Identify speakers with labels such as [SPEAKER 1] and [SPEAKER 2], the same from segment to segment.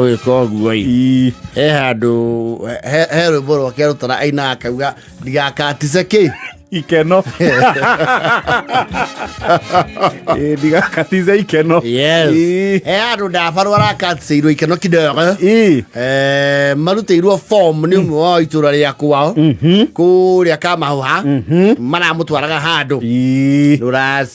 [SPEAKER 1] gwĩka ũguo i he handũ he he rwĩmbo rwake arutana aina akauga ndigakatice kĩ ikeno
[SPEAKER 2] Ĩĩ, ndigakatize ikeno yes Ĩĩ. he
[SPEAKER 1] handũ ndabarwo arakaticiirwo ikeno kidogo Ĩĩ. Eh, marutĩirwo form nĩ ũmwe wa itũra rĩa kwao kũrĩa kamahuha maramũtwaraga handũ Ĩĩ. rũraci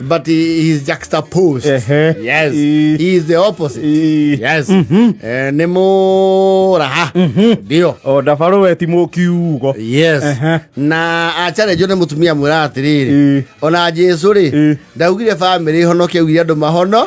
[SPEAKER 1] But he is juxtaposed. Ehe. Yes. I- He is the opposite. I- Yes. Eh, nĩ mũraha. Ndio. o ndabarå we ti
[SPEAKER 2] må kiugo Yes. Ehe.
[SPEAKER 1] Na acharenjwo nĩ mũtumia mwĩra atĩrĩrĩ. Ĩ. Ona Jesu rĩ, Ĩ. ndaugire bamĩrĩ ĩhonoke augire andũ mahono.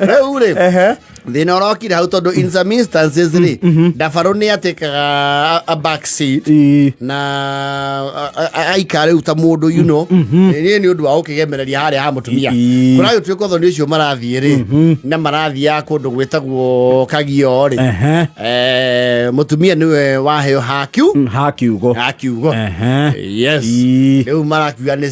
[SPEAKER 1] rĩu rĩ Ehe. thina urokire hau tondu in some instances ri ndabaru ni atikaga a- a back seat Ii. na a- a- a- aikara riu ta mundu you know ni ni undu wa gukigemereria haria ha mutumia Ii. kurayo twiko thoni ucio marathie ri na marathia kundu gwitagwo kagio ri Ehe. eh mutumia niwe waheo hakiu ha kiugo ha kiugo Ehe. yes Ii. riu marakiuga ni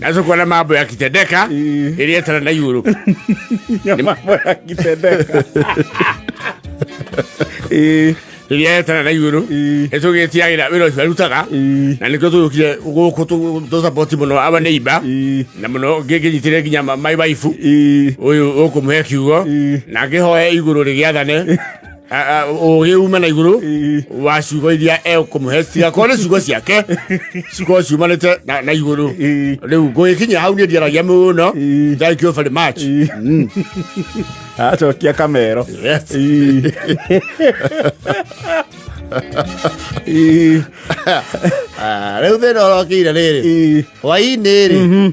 [SPEAKER 1] nazo kuona mambo yakitendeka Eh. ilietana na yuro Ya mambo
[SPEAKER 2] yakitendeka.
[SPEAKER 1] Eh, ilietana na yuro Eh. ĩtũgĩtiagĩra wĩra ũcio arutaga eh, na nĩkĩo tũgĩũkire gũkũ tũ- tũsapoti mũno aba nĩ iba eh, na mũno ngĩngĩnyitĩre nginya ma- my wife eh. ũyũ ũkũmũhe kiugo Eh. na ngĩhoe igũrũ rĩgĩathane ugiuma na iguru wa ciugo iria ekumuhe cigakorwo ni ciugo ciake cikorwo ciumanite na iguru riu ngugikinyia hau ni ndiaragia muno thank you very much mm. acokia
[SPEAKER 2] kamero
[SPEAKER 1] riu thina orokiire riri hwainĩ rĩ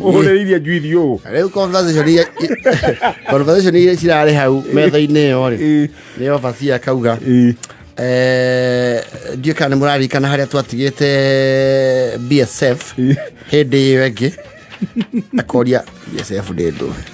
[SPEAKER 2] ũhũrĩrĩirie njuithi ũũ rĩu conversation iria-
[SPEAKER 1] i- conversation iria cirarĩ hau metha-inĩ ĩyo rĩ Ĩ. nĩ obaci akauga Ĩ. eh, ndiũ kana nĩ mũrarikana harĩa twatigĩte bsf Ĩ. hĩndĩ ĩyo ĩngĩ akoria bsf ndĩ ndũĩ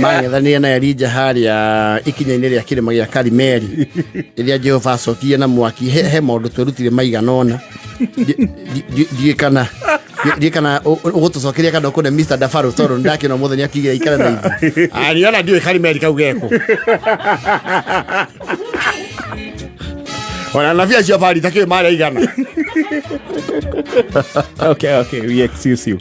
[SPEAKER 1] mangethanire na Elija harĩa ikinya-inĩ rĩa kĩrĩma gĩa Karimeli rĩrĩa Jehova acokirie na mwaki he, he maũndũ twerutire maigana ona ndiĩ kana ndiĩ kana ũgũtũcokeria kana ũkũne Mr Dafaro tondũ ndakĩna mũthenya nĩ akigire ikara na ithuĩ ariona ah, ndiũĩ Karimeli kau geko ona nabii acio bari takĩrĩ marĩa igana
[SPEAKER 2] okay okay we excuse you